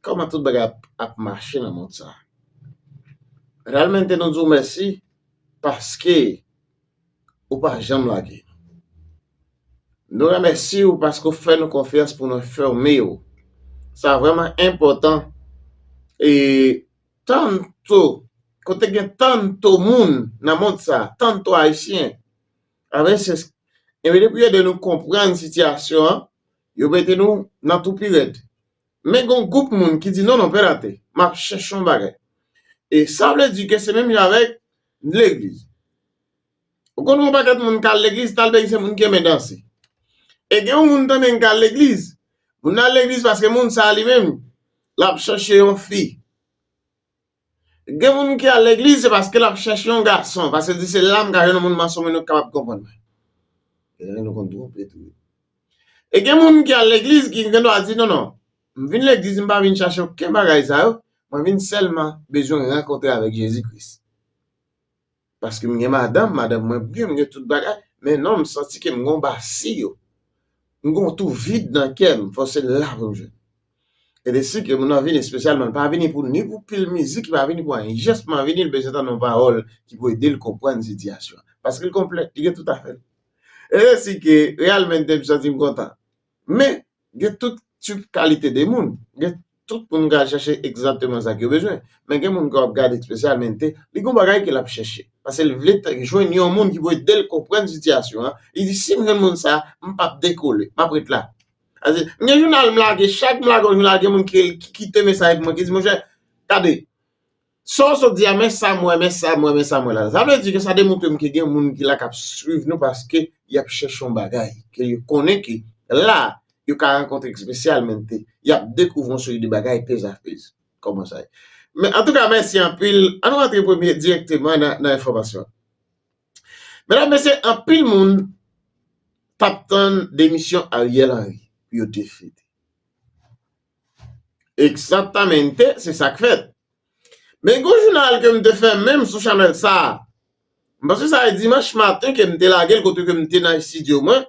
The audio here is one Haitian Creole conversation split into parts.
Kòman tout bagay ap mache nan mond sa. Realmente nou di w mèsi paske ou pa janm lage nou. Nou remèsi w paske ou fè nou konfyans pou nou enfòme w. Sa vrèman enpòtan e tanto kote gen tanto moun nan mond sa, tanto ayisyen a veces e depi yo ede nou konprann sitiyasyon an yo mete nou nan tou pi rèd. Men gon gwoup moun ki di non non pè Latè, m ap chèche yon bagay. E sa vle di ke se menm jan avèk legliz. Ou konn yon pakèt moun k al legliz, talbeyi se moun ki renmen danse. E gen yon moun tanden k al legliz, moun nan al legliz paske moun sa a li menm, l ap chèche yon fi. Gen moun ki al legliz se paske lap chèche yon gason, paske l di se la m ka jwenn yon moun manso moun yo kapab konprann mwen. Gen lè nou konn twonpe tou wi. E gen moun ki al legliz ki gen dwa di non non, m vin legliz m pa vin chache oken bagay sa yo, mwen vin sèlman bezwen rankontre avèk Jezi Kris. Paske m gen madanm, madanm mwen byen, m gen tout bagay, men non m santi ke m gen yon basi yo. M gen yon tou vid nan kè m, fò se la pou m jwenn. E de si ke moun nan vini espesyalman, l pa vini pou ni pou pil mizik, li pa vini pou anyen. Jès man vini, l bezwen tande yon pawòl ki pou ede l konprann sitiyasyon an. Paske l konplè, li gen tout afè l. E de si ke Realmente m santi m kontan. Men, gen tout tip kalite de moun. Gen tout moun ka chèche egzatteman sa k yo bezwen. Men gen moun ke w ap gade espesyalmente, li gon bagay ke l ap chèche. Pase l vle jwenn yon moun ki pou ede l konprann sitiyasyon an. Li di, si m jwenn moun sa a, m p ap dekole. M ap ret la. Pase, m gen jounal m lage, chak m lage yon jounal, gen moun ki kite mesaj pou mwen, ki di, monchè, gade, Sa w sot di a men sa m wè men sa m wè men sa m wè la sa vle di ke sa demontre m ke gen moun ki la k ap swiv nou paske y ap chèche yon bagay ke yo konnen ke la yo ka rankontre ekspesyal men ke y ap dekouvri yon seri de bagay pezapez kòman sa ye men antouka mèsi anpil an nou rantre premye dirèkteman nan enfòmasyon medam mesye anpil moun t ap tann demisyon Ariel Henry pou yo defini. Exactamente, se sa k fèt. Men gen yon jounal ke m te fè menm sou chanèl sa a. M panse sa e dimanch maten ke m te lage l kote ke m te nan estidyo mwen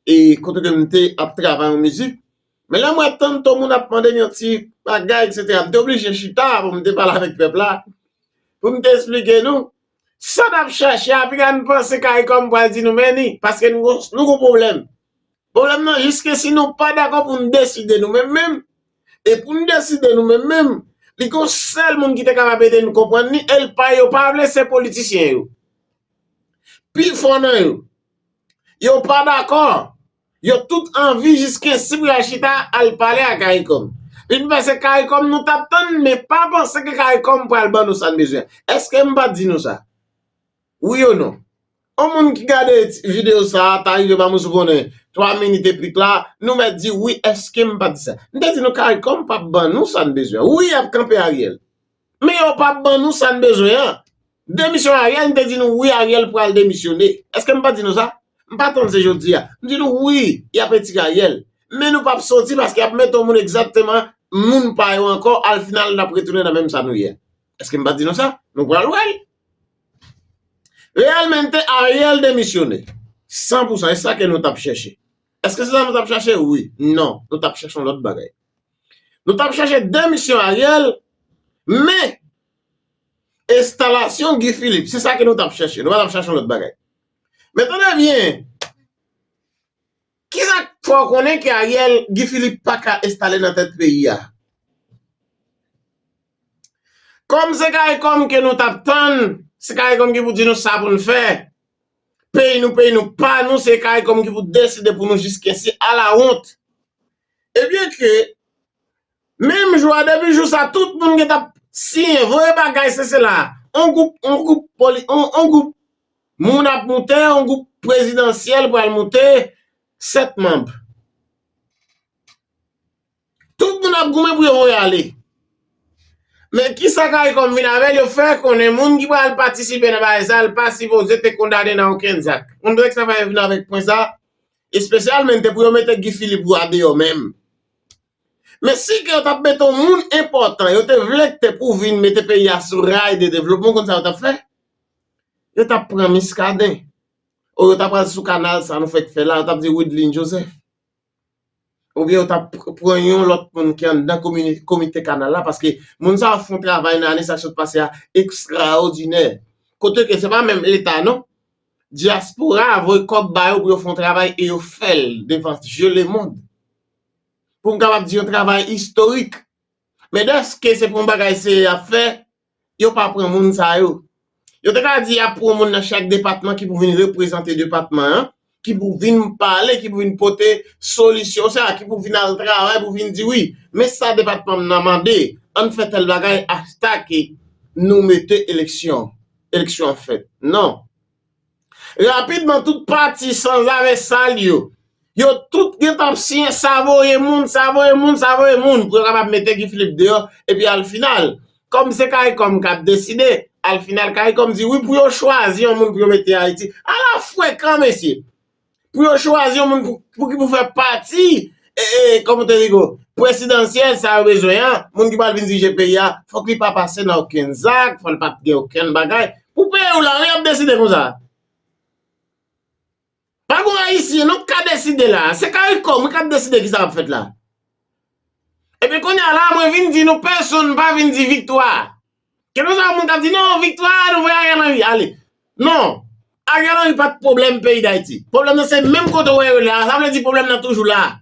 e kote ke m te ap travay yon mizik. Men lè m wè tann ton moun ap mande m yon ti bagay eksetera, m te oblije chita pou m te pale avèk pèp la, pou m te esplike nou sa n ap chache a. Pinga n panse caricom pral di nou men ni paske nou gon pwoblèm. Pwoblèm nan jis ke si nou pa dakò pou n deside nou menm menm, e pou n deside nou menm menm, li gen yon sèl moun ki te kapab ede n konprann li, e l pa yo pa vle se politisyen yo. Pi fò nan yo. Yo pa dakò. Yo tout anvi jis ke si pou y al chita al pale a caricom. Vin fè se caricom nou t ap tann men pa panse ke caricom pral ban nou sa n bezwen. Eske m pa t di nou sa? Wi ou non? On moun ki gade video sa ta rive banm yon sou konnen 3 minit e pik la nou mèt di wi eskem pa di sa m te di nou caricom pap ban nou sa n bezwen wi yap kanpe ariel men yo pap ban nou sa n bezwen an demisyon ariel m te di nou wi ariel pral demisyone eske m pa di nou sa m pa tann se jodi a m di nou wi yap etire ariel men nou pap soti paske yap mete yon moun egzakteman moun pa yo ankò al final nap retounen nan menm sa nou ye eske m pa di nou sa nou pral wè l Realmente Ariel demisyone San pou san e sa ke nou tap chèche Eske se sa nou tap chache wi Non nou tap chache yon lòt bagay Nou tap chache demisyon Ariel Men Estalasyon Guy Philippe se sa ke nou tap chache Nou pa tap chache yon lòt bagay Men tande byen Kisa k fè w konnen ke Ariel, Guy Philippe pa ka enstale nan tèt peyi a? Kòm se caricom ke nou t ap tann, se caricom ki pou di nou sa pou nou fè. Peyi nou, peyi nou pa nou, se caricom ki pou deside pou nou jiskesi, ala wont! Ebyen ke. Menm jou a depi jou sa tout moun gen tap siyen voye bagay se sela on gwoup on gwoup poli on gwoup moun ap moute on gwoup prezidansyèl pral moute 7 manb tout moun ap goumen pou yo voye ale men kisa karikom vin avèl yo fè konnen moun ki pral patisipe nan bagay sa l pa sipoze te kondane nan okenn zak on dwe travay vin avèk pwen sa espesyalmn te pou yo mete Guy Philippe ou a deyò menm. Men si ke yo tap mete yon moun enpòtan yo te vle kte pou vin mete peyi a sou ray de devlopman ou konn sa yo tap fè? Yo tap pran Miskaden ou yo tap al sou kanal sa nou fèk fè la yo tap di Wideline Joseph ou byen yo tap pran yon lòt moun ki anndan komite kanal la paske moun sa yo fon travay nan ane sa k sot pase a ekstraòdinè kote ke se pa menm leta non dyaspora voye kòb ba yo pou yo fon travay e yo fèl devan je lemond. pou m kapab di yon travay istorik. Men dèske se pou yon bagay serye y ap fè, yo pa pran moun sa yo. Yo te ka di y ap pran yon moun nan chak depatman ki pou vin reprezante depatman an, ki pou vin pale, ki pou vin pote solisyon sa, ki pou vin al travay pou vin di wi, men sa depatman m nan mande, an n fè tèl bagay achtake nou mete eleksyon, eleksyon an fèt. Non. Rapidman tout pati sanzave sal yo, yo tout gen tan ap siyen sa voye moun, sa voye moun, sa voye moun pou yo kapab mete Guy Philippe deyò epi alfinal kòm se karikom kap deside alfinal karikom di wi pou yo chwazi yon moun pou yo mete Ayiti. Ala frekan mesye! Pou yo chwazi yon moun pou ki pou fè pati komite digo presidansyèl sa yo bezwen an, moun ki pral vin dirije peyi a, fòk li pa pase nan okenn zak, fòk li pa gen okenn bagay. Pou peyi w la wi y ap deside konsa. Pa gon Ayisyen non k ka deside la a. Se caricom wi k ap deside ki sa k ap fèt la a. Ebyen kounye a la a mwen vin di nou pèsonn pa vin di viktwa. Kenbe sa moun kap di non viktwa nou vwe Ariel Henry ale. Non Ariel Henry pat pwoblèm peyi Dayiti. Pwoblèm nan se menm kote ou wè yo la. Sa vle di pwoblèm nan toujou la.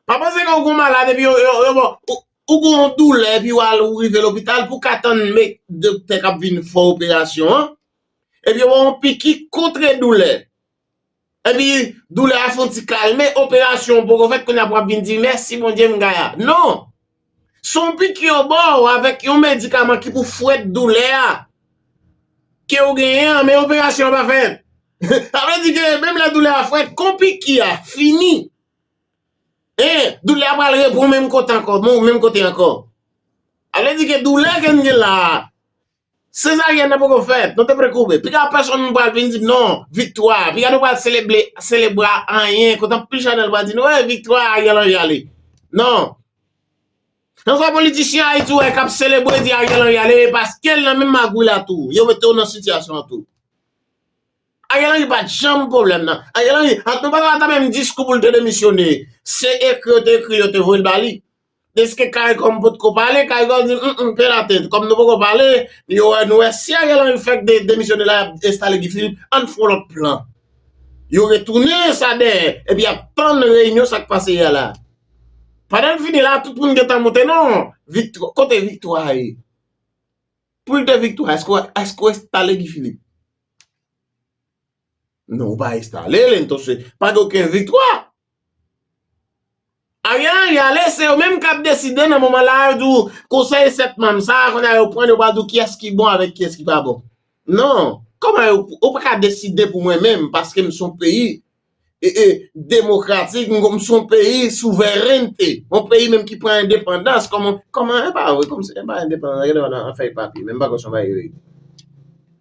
Pa panse ke ou gon malad epi yo ou gon yon doulè epi ou al ou rive lopital pou ka tann doktè kap vin fè operasyon an epi yo ba ou yon piki kontre doulè. Epi doulè a fon ti kalme, operasyon poko fèt kounye a wap vin di mèsi Bondye m gay a. Non! Son piki yo ba w avèk yon medikaman ki pou fwèt doulè a ke ou genyen an men operasyon an pa fèt. Sa vle di ke menm lè doulè a fwèt kon piki a fini en doulè a pral repran menm kote ankò. Sa vle di ke doulè ke n gen la a. Sezaryèn nan poko fèt, nou te pre kouri. Piga pèsonn pral vin di m non, viktwa, piga nou pral selebre, selebra anyen, kote anpil chanèl pral di nou e viktwa Ariel Henry ale. Non. Nan sa politisyen Ayiti ou wè kap selebre di Ariel Henry ale e paske l nan menm magouy la tou, yo mete w nan sitiyasyon an tou. Ariel Henry pat janm pwoblèm nan. Ariel Henry, ant nou pale ata menm diskou pou l te demisyone, se ekri yo te ekri yo te voye l ba li. Deske caricom potko pale, caricom di m m penate, kòm nou poko pale, yo wè nou wè, si Ariel Henry fèk demisyone la yap enstale Guy Philippe, ann fon lòt plan. Yo retounen sa dèyè, epi yap tann reyinyon sak pase yè la. Pandan l fini la, tout moun gentan monte non, viktwa, kote viktwa a ye? Pou l te viktwa, èske ou enstale Guy Philippe? Non, ou pa enstale l, entonse, pa gen okenn viktwa. Ariel Henry ale, se yo menm k ap deside nan moman la a, yo di w, konsèy 7 manm sa a, kounye a yo pran, yo pral di w kiyès ki bon avèk kiyès ki pa bon. Non, kòman yo, ou pa ka deside pou mwen menm, paske m se yon peyi demokratik, m se yon peyi souverènte, yon peyi menm ki pran endepandans, kòman, kòman, e pa vre, kòm se, e pa endepandans, gade w nan fèy papye, menm m pa kwè se yon bagay verite.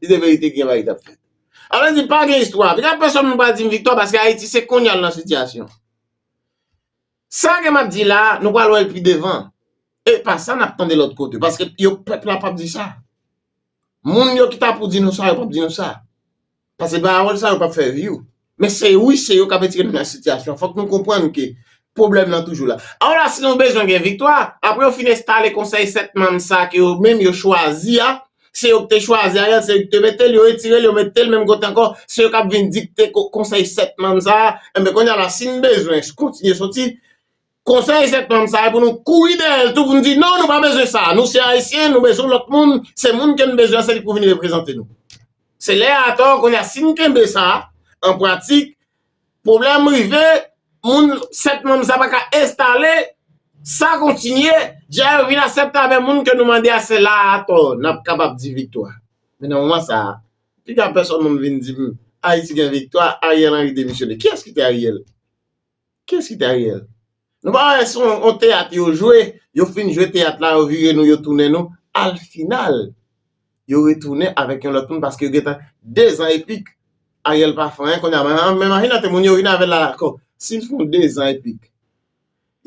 Si se verite, ki yon bagay ki t ap fèt? A vle di pa gen istwa. Pita pèsòn moun pa di m viktwa paske Ayiti se konnya l nan sitiyasyon. Sa ke m ap di la a, nou pral wè l pi devan. E pa sa n ap tande lòt kote paske yo pèp la pap di sa. Moun yo ki ta pou di nou sa yo pap di nou sa. Pase pawòl sa yo pap fè vyou. Men se wi se yo k ap etire nou nan sitiyasyon. Fòk nou konprann ke pwoblèm lan toujou la. Awola si nou bezwen gen viktwa, apre yo fin enstale konsèy 7 manm sa a ke yo menm yo chwazi a, se yo ki te chwazi Ariel, se yo ki te mete l, yo retire l, yo mete l menm kote ankò, se yo k ap vin dikte konsèy 7 manm sa a, enben kounye a la si n bezwen kontinye soti, konsèy 7 manm sa a e pou nou kouri dèyè l tou pou nou di non nou pa bezwen sa, nou se Ayisyen, nou bezwen lòt moun, se moun ke n bezwen an se li pou vin reprezante nou. Se lè a atò, kounye a si n kenbe sa, an pratik, Pwoblèm rive, moun 7 manm sa pa ka enstale, sa kontinye, dja yo vin asepte avè moun ke nou mande a se la a atò nap kapab di viktwa. Men nan moman sa a, piga pèsòn moun vin di m Ayiti gen viktwa, Ariel Henry demisyone. Kiyès ki te Ariel? Kiyès ki te Ariel? Nou pa wè son yon teyat yo jwe, yo fin jwe teyat la yo vire nou yo tounen nou, al final yo retounen avèk yon lòt moun paske yo gentan 2 zan epik Ariel pa fè anyen konnya men Marina te moun yo vin avèl la ankò sil fon 2 zan epik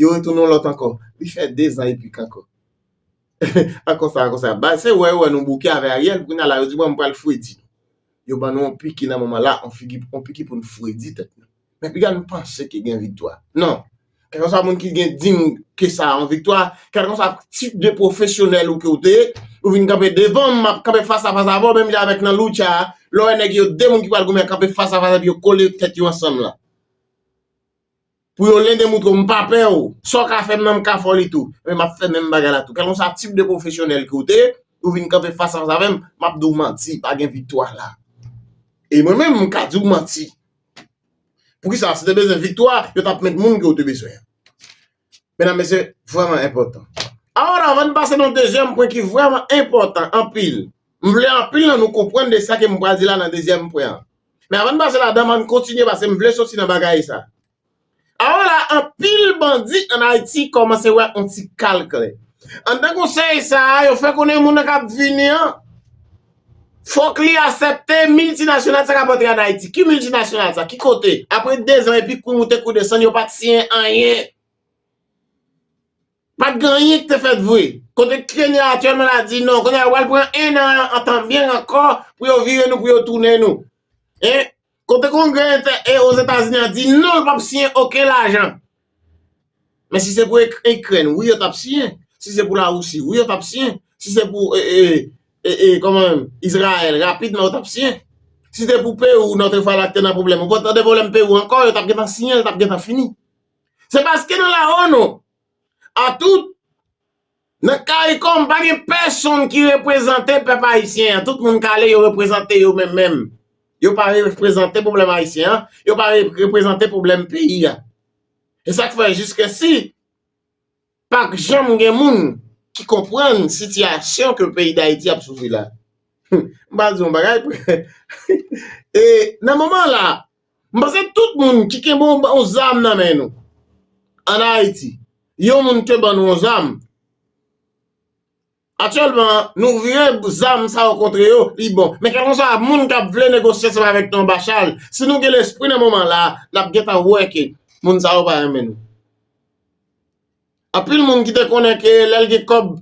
yo retounen yon lòt ankò li fè 2 zan epik ankò a konsa a konsa bay se wè yo wè nou bouke avè Ariel konnya la yo di bon m pral fredi yo ban nou yon piki nan moman la yon piki poun fredi tèt nou. Men piga nou panse ke gen viktwa. Non. Kèlkanswa moun ki gen dim ke sa yon viktwa, kèlkanswa tip de pwofesyonèl ou ke ou te ye, ou vin kanpe devan m, m ap kanpe fas a fas avè w menm jan avèk nan lucha a, lè w wè nèg yo 2 moun ki pral goumen kanpe fas a fas epi yo kole tèt yo ansanm lan. Pou yo len demoutre w m pa pè w, sa w ka fè m nan m ka fè w li tou. Ebyen m ap fè menm bagay la tou. Kèlkanswa tip de pwofesyonèl ke ou te ye, ou vin kanpe fas a fas avè m, m ap di w manti, pa gen viktwa la. E mwen menm m ka di w manti. Poukisa? Se te bezwen viktwa, yo t ap met moun ke w te bezwen. Medam, mesye, vrèman enpòtan. Awòl, avan n pase nan dezyèm pwen ki vrèman enpòtan anpil, m vle anpil nan nou konprann de sa ke m pral di la nan dezyèm pwen an. Men avan n pase ladan m, an n kontinye paske m vle soti nan bagay sa. Awo la anpil bandi an Ayiti kòmanse wè on ti kal klè. Anndan konsèy sa a, yo fè konnen moun nan k ap vini an, fòk li asèpte miltinasyonal sa k ap antre an Ayiti. Ki miltinasyonal sa? Ki kote? Apre dezan epi kou moute kou desann, yo pa t siyen anyen. Pa t gen anyen ki te fèt vre. Kote Kenya aktyèlman la di non, kounye a yo pral pran ennan an tan byen ankò pou yo vire nou, pou yo tounen nou. Kote kongrè entè e Ozetazini an di non l pap siyen oken lajan. Men si se pou Ikrèn wi yo tap siyen, si se pou Larisi wi yo tap siyen, si se pou Izrayèl rapidman yo tap siyen. Si se pou Perou notre Falak te nan pwoblèm ou pa t tande pwoblèm Perou ankò yo tap gentan siyen l tap gentan fini. Se paske nan la onu a tout Nan caricom pa gen pèsonn ki reprezante pèp ayisyen an tout moun kale yo reprezante yo menm menm yo pa reprezante pwoblèm ayisyen an yo pa reprezante pwoblèm peyi a e sak fè jiske si pak janm gen moun ki konprann sitiyasyon ke peyi dayiti ap soufri la humm m pral di yon bagay e nan moman la M panse tout moun ki kenbe yon zam nan men nou an Ayiti, yon moun te ban nou yon zam, aktyèlman nou vire zam sa yo kontre yo, li bon. Men kèlkeswa moun k ap vle negosye ansanm avèk nou anba chal, si nou gen lespri nan moman la, n ap gentan wè ke moun sa yo pa renmen nou. Anpil moun ki te konnen ke lè l gen kòb,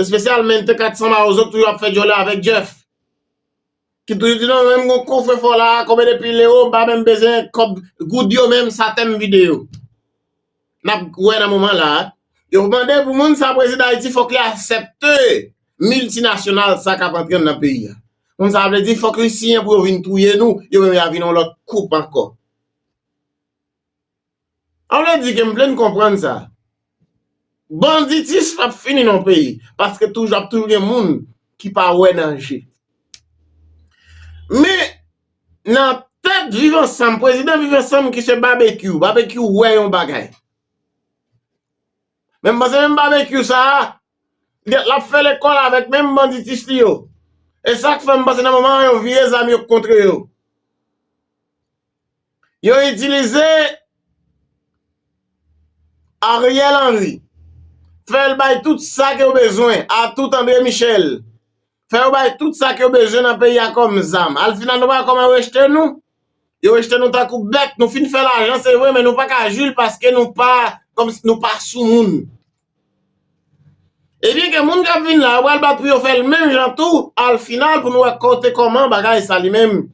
espesyalmente 400 mawozo ki toujou ap fè dyòlè avèk Jeff. Ki toujou di non menm gon kofre fò la konbyen de pil ewo m pa menm bezwen kòb goud yo menm sa tèm vide yo nap wè nan moman la a yo mande pou moun sa prezidan ayiti fòk li asèpte miltinasyonal sa kap antre nan peyi a moun sa vle di fòk li siyen pou yo vin touye nou yo menm ya vin yon lòt koup ankò. An vle di ke m plen konprann sa. Banditis pap fini nan yon peyi paske toujou ap toujou gen moun ki pa wè danje. Men nan tèt viv ansanm, prezidan viv ansanm ki se Babekyou, Babekyou wè yon bagay. Men m panse menm Babekyou sa a, petèt l ap fè lekòl avèk menm banditis li yo. E sa k fè m panse nan moman an yo vire zam yo kontre yo. Yo itilize Ariel Henry fè l bay tout sa ke yo bezwen a tout André Michel fè yo bay tout sa ke yo bezwen nan peyi a kòm zam. Al final nou pa wè kòman yo rejte nou? Yo rejte nou tankou bèt. Nou fin fè lajan se vre men nou pa ka jwi l paske nou pa kòmsi nou pa sou moun. Ebyen ke moun k ap vin la yo pral bat pou yo fè l menm jan tou al final pou nou wè kote kòman bagay sa li menm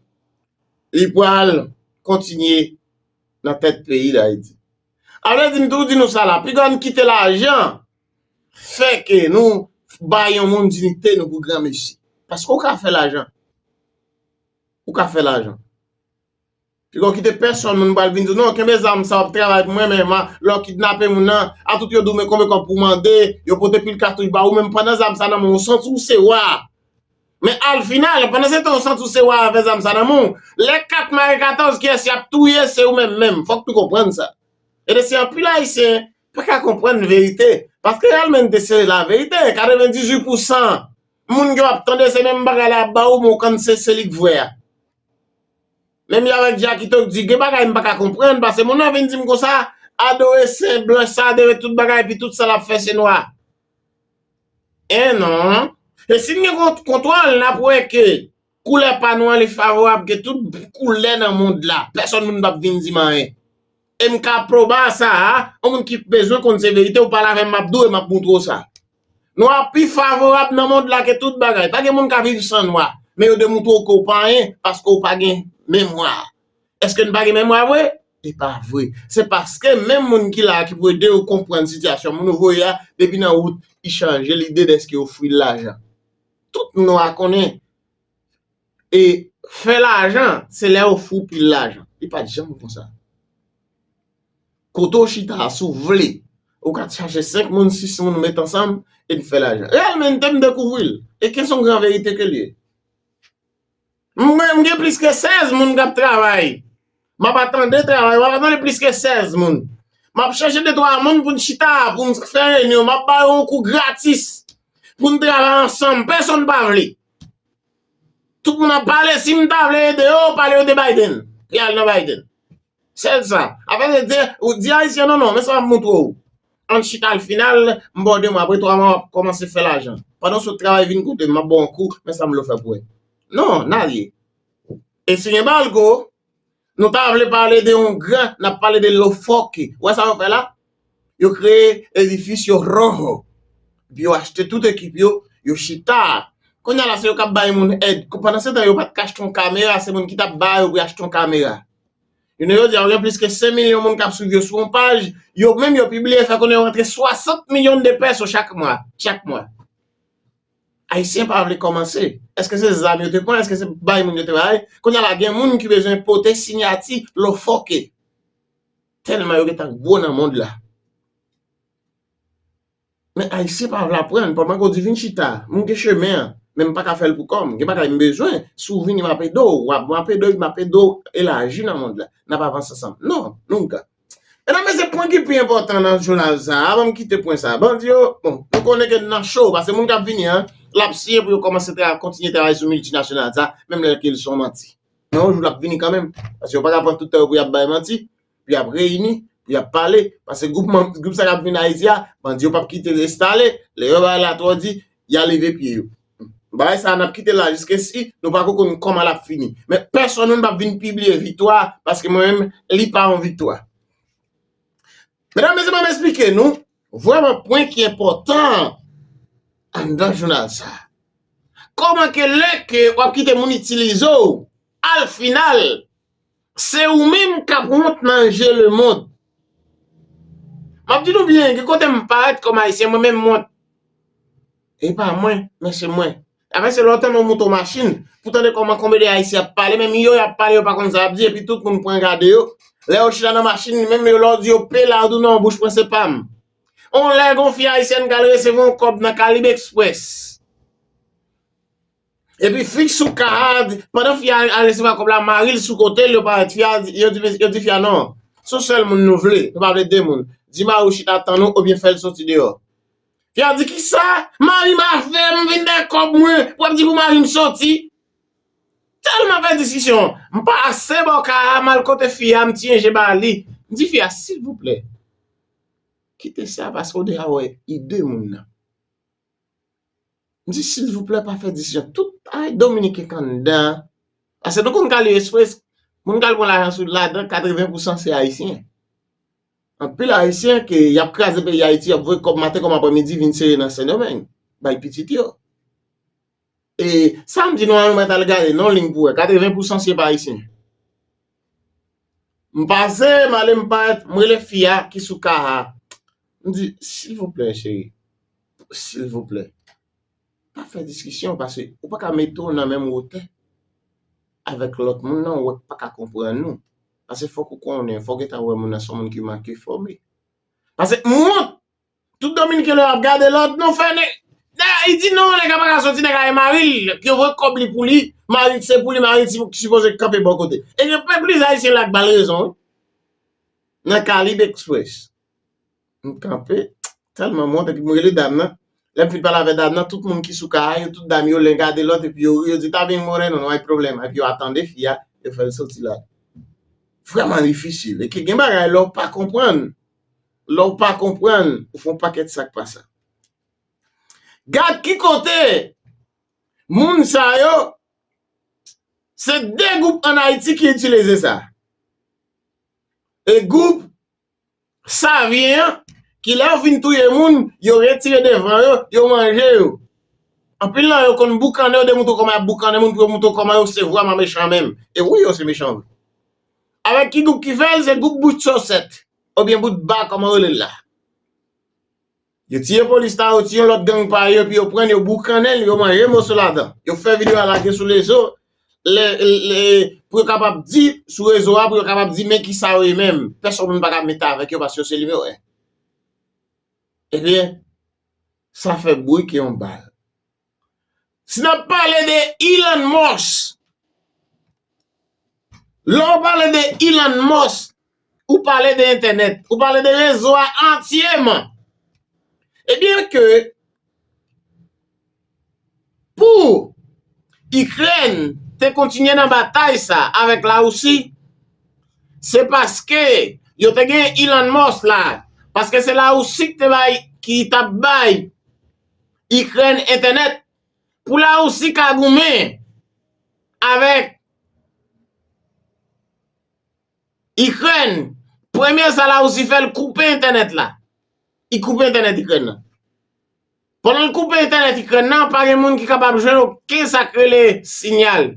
Li pral kontinye nan tèt peyi Dayiti. A vle di m toujou di nou sa la, pi grann kite lajan fè ke nou bay yon moun dinite nou pou granmesi. Paske ou ka fè lajan. Ou ka fè lajan. Pi grann kite pèsonn moun pral vin di w non kenbe zam sa w ap travay pou mwen men lè w kidnape moun nan a tout yo di w men konbe kòb pou w mande yo pote pil katouch ba ou men pandan zam sa nan men w ou santi w se wa. Men al final, pandan se tan ou santi ou se wa avè zam sa nan men w, lè kat mare 14 kiyès y ap touye se ou menm menm, fòk nou konprann sa. E de si anpil ayisyen pa ka konprann verite, paske reyèlmente se la verite, 98 pou 100 moun ke w ap tande se menm bagay la y ap ba ou men w kann se se li k vrè a. Menm jan avèk Jackito k di gen bagay m pa ka konprann pase moun nan vin di m konsa, adore sen blanch sa, adore tout bagay epi tout sa l ap fè se nwa. Eh non. E si n gen kontwòl, n ap wè ke koulè pa nou an li favorab ke tout koulè nan mond la. Pèsòn moun pa p vin di m anyen. E m ka pwouba sa a, yon moun ki bezwen konn se verite ou pale avè m m ap di w e m ap moutre w sa. Nwa pi favorab nan mond la ke tout bagay. Pa gen moun ka viv san nwa. Men yo demoutre w ke w pa anyen paske w pa gen memwa. Eske n pa gen memwa vre? E pa vre. Se paske menm moun ki la a ki pou ede yo konprann sitiyasyon moun ou voye a, depi nan wout, li chanje lide dèske yo ofri l lajan. Tout nwa konnen e fè lajan se lè yo ofri w pil lajan. Li pa t janm konsa. Kote w chita a, si w vle, ou ka chache senk moun, sis moun met ansanm e n fè lajan. Reyèlmente m dekouvri l. E ke s on gran verite ke l ye. Mwen m gen plis ke 16 moun kap travay map atande travay wap atande plis ke 16 moun map chèche de twa moun poun chita poun fè renyon map ba yo yon kou gratis poun travay ansanm pèsonn pa vle tout moun ap pale sim ta vle ede yo pale yo de Biden pou yal nan Biden. Sel sa. Apa se di, ou di ayisyen non non, men sa map montre w. Ann chita l final, m ba w 2 mwa, apre 3 mwa wap kòmanse fè lajan. Pandan w sot travay vin kote m, map ba w yon kou, men sa m vle w fè pou wè. Non, n alye. E si gen balgo, nou ta vle pale de yon gran, nap pale de lofoki. Ou wè sa yo fè la? yo kreye edifis yo Roho epi yo achte tout ekip yo, yo chita kounya la se yo kap bay moun èd pandan se tan yo pat ka achte yon kamera se moun ki tap ba yo pou yo achte yon kamera jounen jodi a ou gen plis ke 5 milyon moun kap swiv yo sou yon paj yo menm yo pibliye fè konnen yo rantre 60 milyon de peso chak mwa chak mwa ayisyen pa vle kòmanse èske se zam yo te pran èske se bay moun yo te bay kounya la gen moun ki bezwen pote sinyati lofoque. Tèlman yo gentan gwo nan mond la. Men ayisyen pa vle aprann, pa manke w di vin chita, m gen chemen an, men m pa ka fè l pou kò m, gen bagay m bezwen, si w vini m ap ede w, m ap ede w, m ap ede w elaji nan mond la, n ap avanse ansanm. Non, nunca. Medam mesye pwen ki pi enpòtan nan jounal sa a, avan m kite pwen sa a, bandi yo, bon, nou konnen ke n nan cho, pase moun k ap vini an, l ap siyen pou yo kòmanse kontinye travay sou miltinasyonal sa a, menm lè ke l son manti. Men yon jou l ap vini kanmenm, paske yo pa ka pran tout tan yo pou y ap bay manti, pou y ap reyini, pou y ap pale, paske gwoup manm, gwoup sa k ap vin Ayiti a, bandi yo p ap kite l enstale, lè yo bay la twò di, y a leve pye yo. Bagay sa a n ap kite l la jiskesi nou pa ko konn kòman l ap fini. Men pèsonn menm p ap vin pibliye viktwa a, paske mwen menm li pa yon viktwa. Medam, Mesye m ap esplike nou, Vrèman pwen ki enpòtan anndan jounal sa. Kòman ke lè ke w ap kite moun itilize w, al final, se ou menm k ap wont nan je lemond. M ap di nou byen, gen kote m parèt kòm Ayisyen, mwen menm m wont. E pa mwen, men se mwen. Afè se lè w tande yon mouton machin, pou tande kòman konbe de Ayisyen ap pale, menm yo y ap pale yo pa konn sa y ap di epi tout moun pran gade yo. Lè yo chita nan machin li menm yo lè w di yo pe la tou nan bouch mwen se pa m. On lè gon fi Ayisyèn k al resevwa yon kòb nan Caribe Express. Epi fi k sou ka a, pandan fi a al resevwa kòb la mari l sou kote l yo parèt fi a, yo di fi a non, son sèl moun nou vle, nou pa vle 2 moun. Di mari w chita tann ou oubyen fè l soti deyò. Yap di kisa mari m ap fè m vin bay kòb mwen pou ap di pou mari m soti. Tèlman fè diskisyon m pase bò ka a m al kote fi a m tiye je ba li m di fi a silvouplè kite sa paske ou deja wè ide moun nan. M di silvouplè pa fè diskisyon tout ay dominiken kanndan an paske nou konn k al express moun k al pran lajan sou ladan 80 pousan se ayisyen. Anpil ayisyen ke yap kraze peyi Ayiti yap voye kòb maten kòm aprè midi vin sere nan sendomeng bay pitit yo e sam di nou an nou mèt al gade non li pou wè 80 pousan se pa ayisyen m pase m ale m parèt m rele fi a ki sou ka a m di silvouplè cheri silvouplè pa fè diskisyon pase ou paka mete w nan menm wotè avèk lòt moun nan ou wè m paka konprann ou. Pase fok ou konnen, fok ou gentan wè moun nan son moun ki manke fòme. Pase m wont! Tout dominiken lè yap gade lòd non fè nèg. Dayè li di non nèg la paka soti nèg la gen mari l, yo voye kòb li pou li, mari l se pou li, mari l ki sipoze kanpe bò kote. E gen plis ayisyen la k bal rezon wi. Nan Kalib Express. M kanpe tèlman m wont epi m rele dam nan. Lè m fin pale avè dam nan, tout moun ki sou ka a yo, tout dam yo len gade lòt epi yo ri, yo di ta byen moreno, no hay problema epi yo ap tande fi a, yo fè l soti la. Vrèman difisil. E ke gen bagay lè w pa konprann, lè w pa konprann, ou fè yon pakèt sa k pa sa. Gad ki kote moun sa yo, se 2 gwoup an Ayiti ki itilize sa. E gwoup Savien an, kilè yo fin touye moun, yo retire devan yo, yo manje yo. Anpil nan yo konn boukannen yo demontre kòman y ap boukannen moun pou yo montre kòman yo se vrèman mechan menm. E wi yo se mechan vre. Avèk ki gwoup ki fè l, se gwoup bout sòsèt, obyen bout ba kòman yo rele l la. Yo tiye polis la, yo tiye yon lòt gang pa yo epi yo pran l, yo boukannen l, yo manje moso ladan. Yo fè videyo a lage sou rezo pou yo kapab di, sou rezo a pou yo kapab di men ki sa yo ye menm. Pèsonn menm pa ka mete avèk yo paske yo se nimewo 1. Ebyen, sa fè bri ke yon bal. Si nap pale de Elon Musk, lè ou pale de Elon Musk, ou pale de entènèt, ou pale de rezo a antyeman. Ebyen ke pou Ikrèn te kontinye nan batay sa avèk la Wousi, se paske yo te gen Elon Musk la, paske se la Wousi ki te bay, ki tap bay Ikrèn entènèt pou Larisi ka goumen avèk Ikrèn. Premye sa Larisi fè l koupe entènèt la. Li koupe entènèt Ikrèn nan. Pandan l koupe entènèt Ikrèn nan, pa gen moun ki kapab jwenn oken sa k rele sinyal.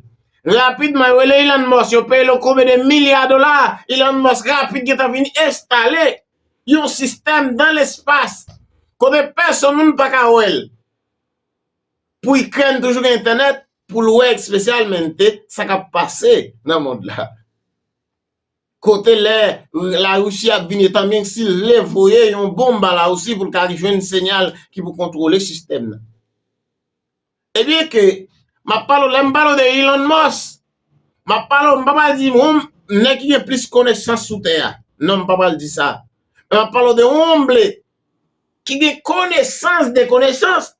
Rapidman yo rele Elon Musk, yo peye l yon koube de milya dola, Elon Musk rapid gentan vin enstale yon sistèm dan lespas kote pèsonn moun pa ka wè l. Pou Ikrèn toujou gen entènèt pou l wè espesyalmente sa k ap pase nan mond la. Kote lè Larisi ap vini etan byen ke si l vle voye yon bonm ba Larisi pou l ka jwenn senyal ki pou kontwole sistèm nan. E byen ke m ap pale w, lè m pale w de Elon Musk, m ap pale w, m pa pral di yon nèg ki gen plis konesans sou tè a. Non, m pa pral di sa. Men m ap pale w de yon omble ki gen konesans de konesans.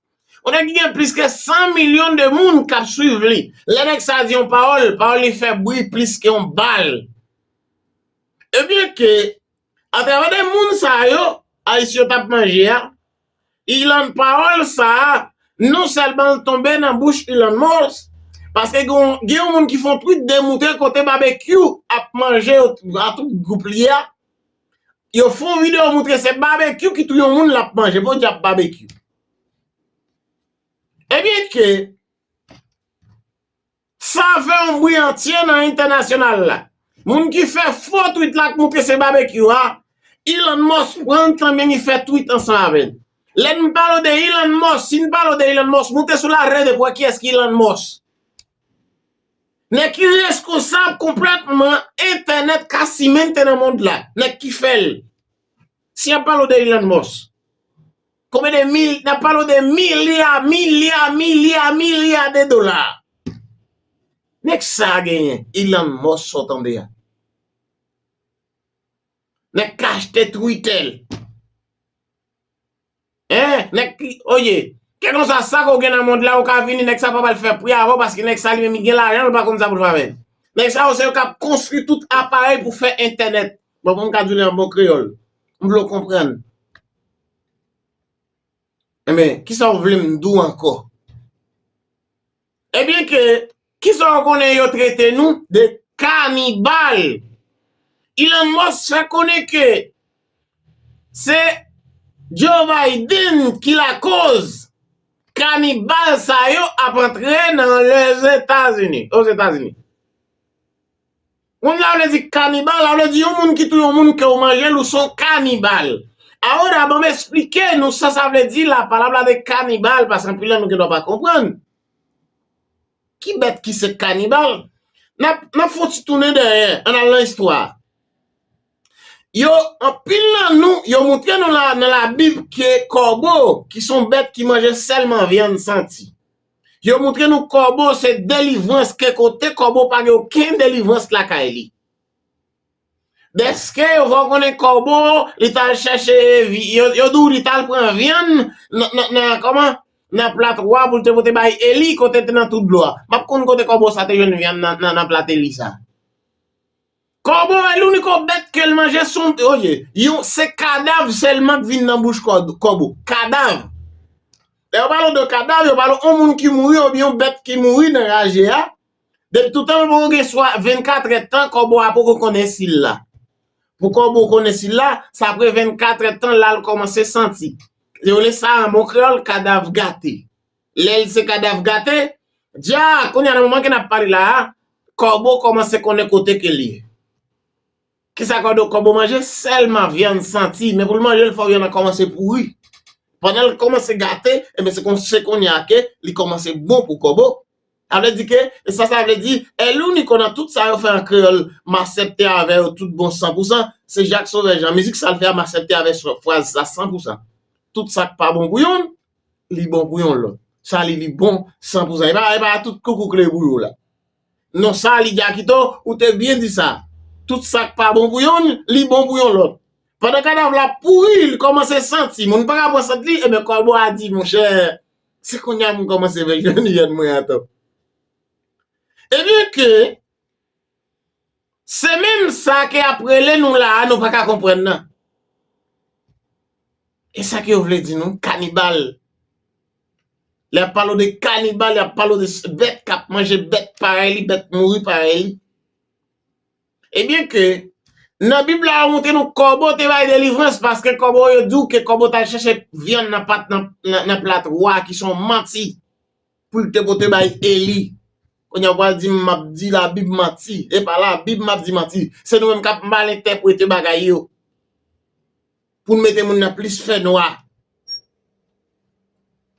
Yon nèg ki gen plis ke 100 milyon de moun k ap swiv li. Lè nèg sa a di yon pawòl, pawòl li fè bri plis ke yon bal. E byen ke Atravè de moun sa yo Ayisyen t ap manje a, Ilan pawòl sa a non sèlman l tonbe nan bouch Ilan Mons, paske gen yon moun ki fon twit demoute kote Babekyou ap manje yo a tout gwoup li a, yo fon videyo moutre se Babekyou ki touye yon moun l ap manje, podyab Babekyou. Ebyenke. Sa fè yon bri antye nan entènasyonal la. Moun ki fè fo twit la k moute se Babekyou a, Elon Musk pran l tanmen li fè twit ansanm avè l. Lè n pale w de Elon Musk, si n pale w de Elon Musk, moute sou la rèd e pou wè kiyès ki Elon Musk. Nèg ki reskonsab konplètman entènèt ka simente nan mond la, nèg ki fè l. Si y ap pale w de Elon Musk. Konbyen de mil, nap palo de milya, milya, milya, milya de dola. Nèg sa a genyen Elon Musk sa w tande a. Nèg k achte Twitter. Hein, nèg ki, oye, kè konsa sa ke w gen nan mond la ou ka vini nèg sa pap al fè pri avè w paske nèg sa li menm li gen lajan l pa konn sa pou l fè avè l. Nèg sa yo se yo kap konstwi tout aparèy pou fè entènèt. Bon pou m ka di w li an bon kreyòl. M vle w konprann. Enben, ki sa ou vle m di w ankò? Ebyen ke, ki sa ou konnen yo trete nou de kanibal. Elon Musk fè konnen ke se Joe Biden ki lakoz kanibal sa yo ap antre nan Lèzetazini, Ozetazini. Moun la vle di kanibal la vle di yon moun ki touye yon moun ke ou manjel ou son kanibal. Ahora banm esplike nou sa sa vle di la palabra de kanibal pask anpil nan nou gen dwa pa konprann. Ki bèt ki se kanibal? Nap nap fon ti tounen dèyè ann al nan istwa. Yo anpil nan nou yo moutre nou la nan la bib ke kòbo ki son bèt ki manje sèlman vyann santi. Yo moutre nou kòbo se delivrans ke kote kòbo pa gen oken delivrans lakay li. Dèske yo fè w konnen kòbo li t al chèche yo di w li t al pran vyann nan kòman nan plat wa pou l te pote bay Eli kote te nan twou dlo a. M ap konn kote kòbo sa te jwenn vyann nan plat Eli sa. Kòbo e louniko bèt ke l manje son oye yon se kadav sèlman k vin nan bouch kòbo kadav lè yo pale w de kadav yo pale w yon moun ki mouri oubyen yon bèt ki mouri nan raje a depi toutan l poko gen swa vennkatrè tan kòbo a poko konnen si l la pou kòbo konnen si l la se apre vennkatrè tan l la l kòmanse santi yo rele sa an bon kreyòl kadav gate. Lè l se kadav gate, di a, kounye a nan moman ke n ap pale la a, kòbo kòmanse konnen kote ke l ye. Ki sa kòdo kòbo manje? Sèlman vyann santi, men pou l manje l fò vyann nan kòmanse pouri. Pandan l kòmanse gate, enben se kon se kounye a ke li kòmanse bon pou kòbo. Sa vle di ke, e sa sa vle di, Elouniko nan tout sa yo fè an kreyòl, m asèpte avè yo tout bon san pou san, se Jak Sovè Jan. Mizik sa l fè a m asèpte avè fraz sa san pou san. Tout sa k pa bon pou youn, li bon pou yon lòt. Sa li li bon san pou sa. E pa e pa tout koukou kle pou yo la. Non sa li Jackito ou te byen di sa. Tout sak pa bon pou yonn li bon pou yon lòt. Pandan kadav la ap pouri li kòmanse santi moun pa ka pran sant li enben kòbo a di monchè se kounya m kòmanse vè jèn hyèn mwen an tou. Ebyen ke Se menm sa ke yap rele nou la a nou pa ka konprann nan. E sa ke yo vle di nou kanibal. Lè yap pale w de kanibal yap pale w de bèt kap manje bèt parèy li, bèt mouri parèy li. E byen ke nan bib la yo montre nou kòbo te bay delivrans paske kòbo yo di w ke kòbo tal chèche vyann nan pat nan plat wa ki son manti. pou l te pote bay Eli. Kounye a w pral di m m ap di Labib manti. E pa Labib m ap di manti. Se nou menm k ap mal entèprete bagay yo pou n mete moun nan plis fènwa.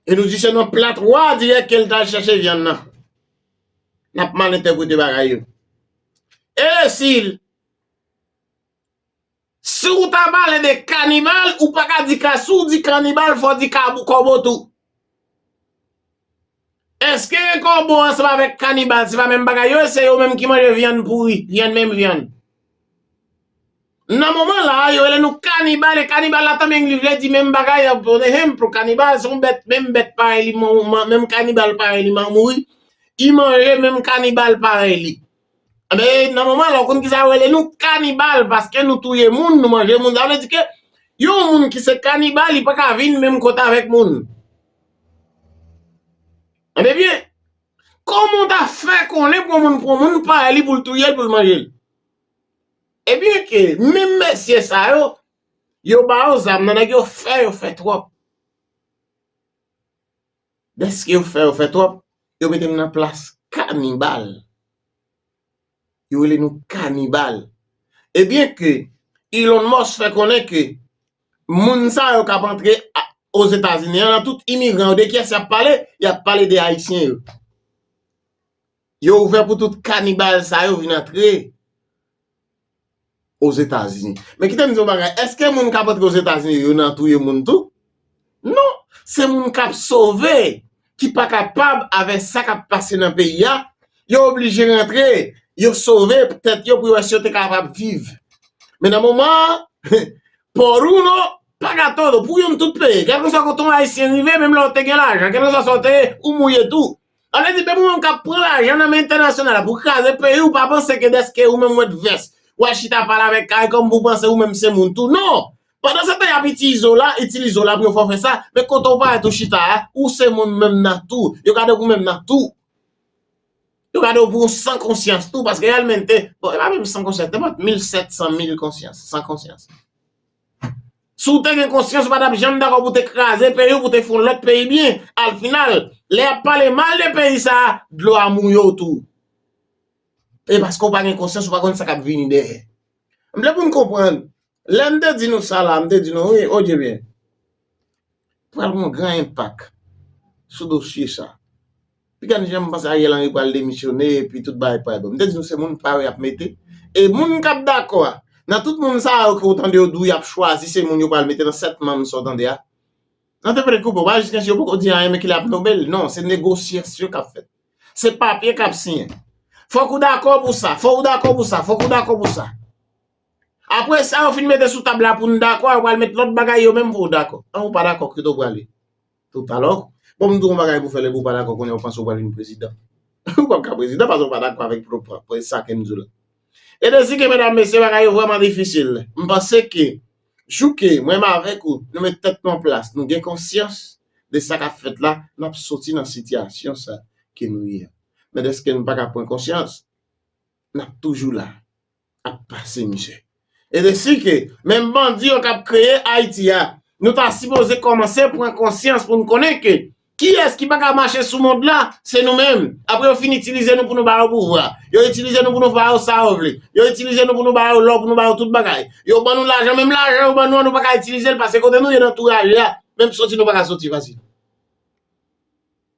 E nou di se nan plat wa a dirèk ke l t al chèche vyann nan. N ap mal entèprete bagay yo. E si l Si ou ta pale de kanibal, ou pa ka di ka, si ou di kanibal, fò di kabou kòbo tou. Eske kòbo ansanm avèk kanibal se pa menm bagay yo, se yo menm ki manje vyann pouri, vyann menm vyann. Nan moman la a, yo rele nou kanibal, e kanibal la tanmen li vle di menm bagay an, pou enhenpl, kanibal se yon bèt, menm bèt parèy li, menm kanibal parèy li mouri, li manje menm kanibal parèy li. Ebyen nan moman la ou konn kisa yo rele nou kanibal paske nou touye moun nou manje moun sa vle di ke yon moun ki se kanibal li paka vin menm kote avèk moun tande byen kòman ou ta fè konnen pou yon moun pran moun parèy li pou l touye l pou l manje l ebyen ke menm mesye sa yo yo ba yo zam nan nèg yo fè yo fè twòp. Deske yo fè yo fè twòp, yo mete nou nan plas kanibal. Yo rele nou kanibal. E byen ke Elon Musk fè konnen ke moun sa yo kap antre Ozetazini an, nan tout imigran yo, de kiyès yap pale? Yap pale de Ayisyen yo. Yo ouvè pou tout kanibal sa yo vin antre Ozetazini. Men kite m di yon bagay, èske moun k ap antre Ozetazini yo nan touye moun tou? Non! Se moun k ap sove, ki pa kapab avè sa k ap pase nan peyi a, yo oblije rantre, yo sove pou tèt yo pou yo wè si yo te kapab viv. Men nan moman an, por uno, paga todo, pou youn tout peye. Kèlkeswa kote yon Ayisyen rive, menm lè w te gen lajan, kèlkeswa sa w te ye, ou mouye tou. Sa vle di depi ou menm kap pran lajan nan men entènasyonal la pou kraze peyi ou pa panse ke dèske ou menm wet vès wal chita pale avèk karikom pou panse ou menm se moun tou non pandan se tan yap itiize w la itilize w la pou yon fè w fè sa men kote w parèt ou chita a ou se moun menm nan tou yo gade w pou menm nan tou yo gade w pou yon san konsyans tou paske realmente bon e pa menm san konsyans te pot mil sèt san mil konsyans san konsyans Si w te gen konsyans ou pa tap janm dakò pou te kraze peyi w pou te fè yon lòt peyi byen, al final lè yap pale mal de peyi sa a dlo a mouye w tou. E paske w pa gen konsyans ou pa konn sa kap vini dèyè. M vle pou n konprann, lè m te di nou sa la, m te di nou wi, odye byen. pral gen yon gran enpak sou dosye sa. Pi gad jan m panse Ariel Henry pral demisyone epi tout bagay pral bon. M te di nou se moun pa yo y ap mete. E moun k ap dakò a, nan tout moun sa yo ke ou tande yo di w y ap chwazi se moun yo pral mete nan 7 manm sa w tande a. Nan te pale kou bon bagay jiskaske yo poko di anyen men ki lè y ap nome l. Non, se negosyasyon k ap fèt. Se papye k ap siyen. Fòk ou dakò pou sa, fòk ou dakò pou sa, fòk ou dakò pou sa. Apre sa yo fin mete sou tab la pou n dakò, yo pral met lòt bagay yo menm pou w dakò. An ou pa dakò, kote w prale? Tout alò, bon m di w yon bagay pou w fè lè pou w pa dakò kounye a ou panse ou pral vin prezidan. Ou p ap ka prezidan paske ou pa dakò avèk sa ke m di w la. E de si ke medam mesye bagay yo vrèman difisil, m panse ke jou ke mwen m avèk ou nou met tèt nou an plas, nou gen konsyans de sa k ap fèt la, n ap soti nan sitiyasyon sa ke nou ye a. Men dèske nou pa ka pran konsyans, n ap toujou la. ap pase mizè. E de si ke menm bandi yo kap kreye Ayiti a, nou ta sipoze kòmanse pran konsyans pou nou konnen ke kiyès ki pa ka mache sou mond la, se nou menm. Apre yo fin itilize nou pou nou ba yo pouvwa, yo itilize nou pou nou ba yo sa yo vle, yo itilize nou pou nou ba yo lò, pou nou ba yo tout bagay. Yo ban nou lajan, menm lajan yo ban nou an nou pa ka itilize l pase kote nou ye nan touraje a, menm soti nou pa ka soti fasil.